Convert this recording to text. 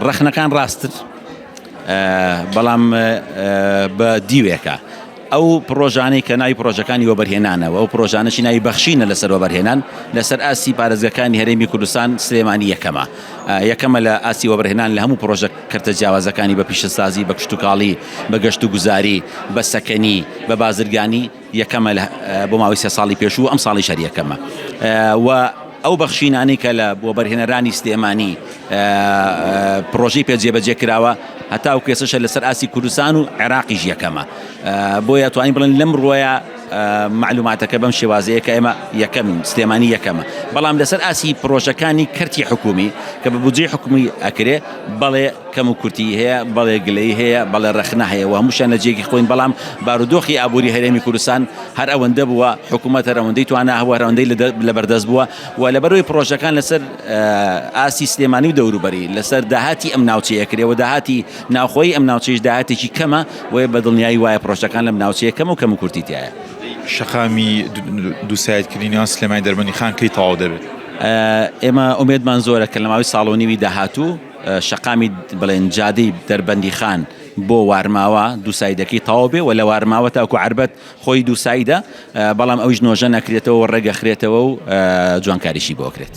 ڕەخنەکان ڕاستن بەڵام بە دیوێکە. ئەو پرۆژانەی کە ناوی پرۆژەکانی وەبەرهێنانە و ئەو پرۆژانەشی ناوی بەخشینە لەسەر وەبەرهێنان لەسەر ئاستی پارێزگەکانی هەرێمی کوردستان سلێمانی یەکەمە یەکەمە لە ئاستی وەبەرهێنان لە هەموو پرۆژە کەرتە جیاوازەکانی بە پیشەسازی بە کشتوکاڵی بە گەشت و گوزاری بە سەکەنی بە بازرگانی یەکەمە لە بۆ ماوەی سێ ساڵی پێشوو و ئەمساڵیش هەر یەکەمە و ئەو بەخشینانەی کە لە وەبەرهێنەرانی سلێمانی پرۆژەی پێ جێبەجێ کراوە هەتاو کێسەشە لەسەر ئاسی کوردستان و عێراقیش یەکەمە بۆیە توانین بڵێن لەم ڕۆیە معلوماتەکە بەم شێوازەیە کە ئێمە یەکەمین سلێمانی یەکەمە بەڵام لەسەر ئاسی پرۆژەکانی کەرتی حکومی کە بە بودجەی حکومی ئەکرێ بەڵێ کەم و کورتیی هەیە، بەڵێ گلەیی هەیە، بەڵێ ڕەخنە هەیە و هەمووشیان لە جێگەی خۆین، بەڵام بارودۆخی ئابووری هەرێمی کوردستان هەر ئەوەندە بووە، حکوومەت هەر ئەوەندەی توانا هەبووە، هەر ئەوەندەی لەبەردەست بووە و لەبەرئەوەی پڕۆژەکان لەسەر ئاستی سلێمانی و دەوروبەری، لەسەر داهاتی ئەم ناوچەیە کرێ و داهاتی ناوخۆیی ئەم ناوچەیەش داهاتێکی کەمە، بۆیە بە دڵنیایی وایە پڕۆژەکان لەم ناوچەیە کەمە و کەم و کورتی تیایە. شەقامی دووسایدکردنی نێوان سلێمانی و دەربەندیخان کەی تەواو دەبێت؟ ئێمە ئومێدمان زۆرە کە لە ماوەی ساڵ و نیوی داهاتوو، شەقامی بڵێن جادەی دەربەندیخان بۆ وارماوە دووسایدەکەی تەواو بێ و لە وارماوە تاکو عربەت خۆی دووسایدە بەڵام ئەویش نۆژە نەکرێتەوە ڕێگەخرێتەوە و جوانکاریشی بۆ کرێت.